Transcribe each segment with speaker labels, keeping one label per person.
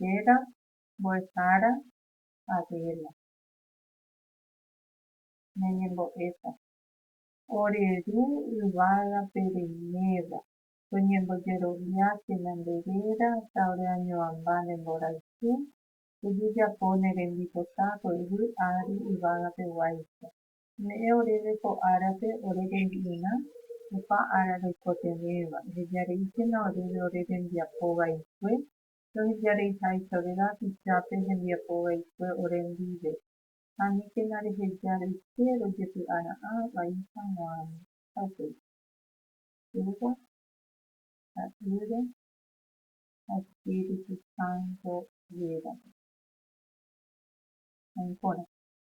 Speaker 1: Réra mbo'ehára Adela, ñañembo'éta, ore Ru yvágape reiméva, toñembojeroviáke ñande réra ha ore añoamba ne mborayhu pejejapo ne rembipotápe yvy ári yvágape guáicha. Ome'ẽ oréve ko árape ore rembi'urã, opa ára roikotevẽva, ehejareíkena oréve ore rembiapo vaikue, rohejareiháichavéva apichápe hembiapo vaikue ore ndive, ha aníkena reheja roike rojepy'ara'ã vai hag̃uáme. Ha upéi. Yva, Ta'ýre ha Espíritu Santo rérape. Ha'énkorã.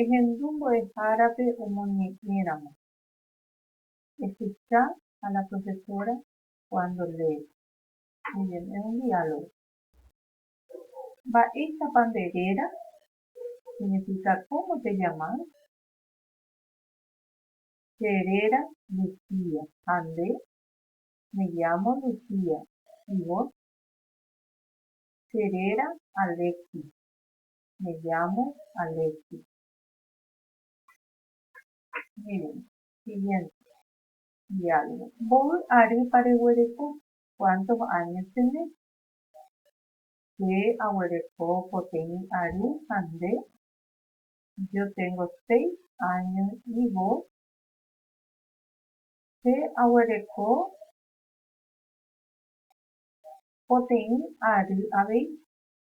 Speaker 1: Ehendu mbo'ehárape omoñe'ẽramo. Ehecha a la profesora cuando lee. Muy bien, es un diálogo. Mba'éichapa nde réra? Significa cómo te llamas? Che réra Lucía. Ha nde? Me llamo Lucía. Y vos? Che réra Alexis. Me llamo Alexis. Miren, siguiente diálogo. Mboy arýpa reguereko? Cuántos años tenés? Che aguereko poteĩ ary ha nde? Yo tengo seis años y vos? Che aguereko poteĩ ary avei.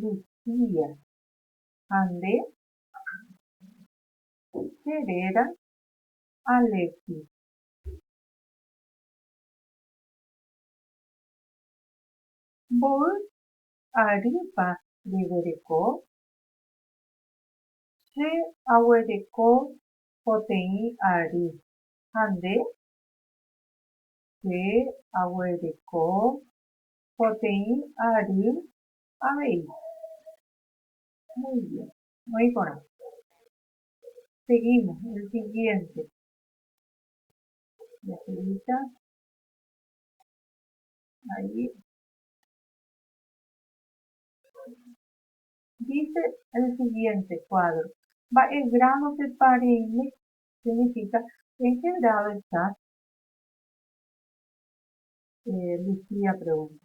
Speaker 1: Lucía, ha nde? Che réra Alexis. Mboy arýpa reguereko? Che aguereko poteĩ ary. Ha nde? Che aguereko poteĩ ary Avei. Muy bien. Oĩ porã. Seguimos. El siguiente. Jaseguíta. Ahí. Dice el siguiente cuadro. Mba'e grado pe pareime significa en qué grado estás? Eh, Lucía pregunta.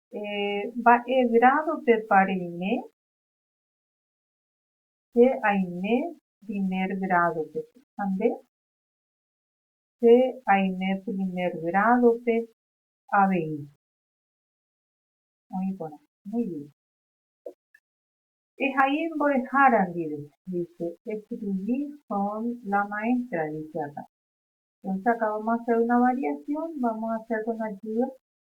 Speaker 1: Mba'e grádopepa reime? Che aime primer grádope. Ha nde? Che aime primer grádope avei. Oĩ porã. Muy bien. Ehai mbo'ehára ndive, dice. Escribí con la maestra, dice akã. Entonces acá vamos a hacer una variación, vamos a hacer con ayuda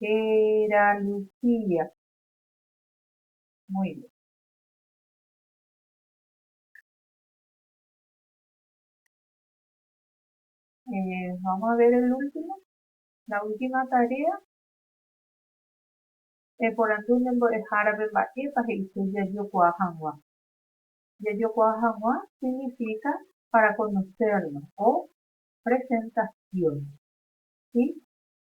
Speaker 1: Héra Lucía. Muy bien. Eh, vamos a ver el último. La última tarea. Eporandu ne mbo'ehárape mba'épa he'ise jajokuaa hag̃ua. Jajokuaa hag̃ua significa para conocernos o presentación. ¿Sí?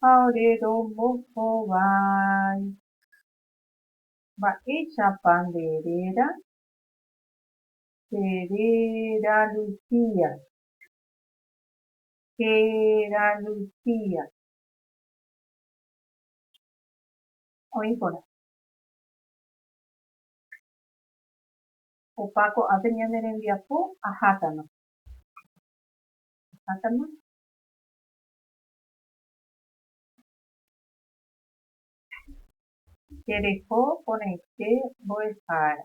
Speaker 1: ha ore rombohovái. Mba'éichapa nde réra? Che réra Lucía. Héra Lucía. Oĩ porã. Opa ko'ápe ñane rembiapo ahákama. Ahákama. Jereko porãite mbo'ehára.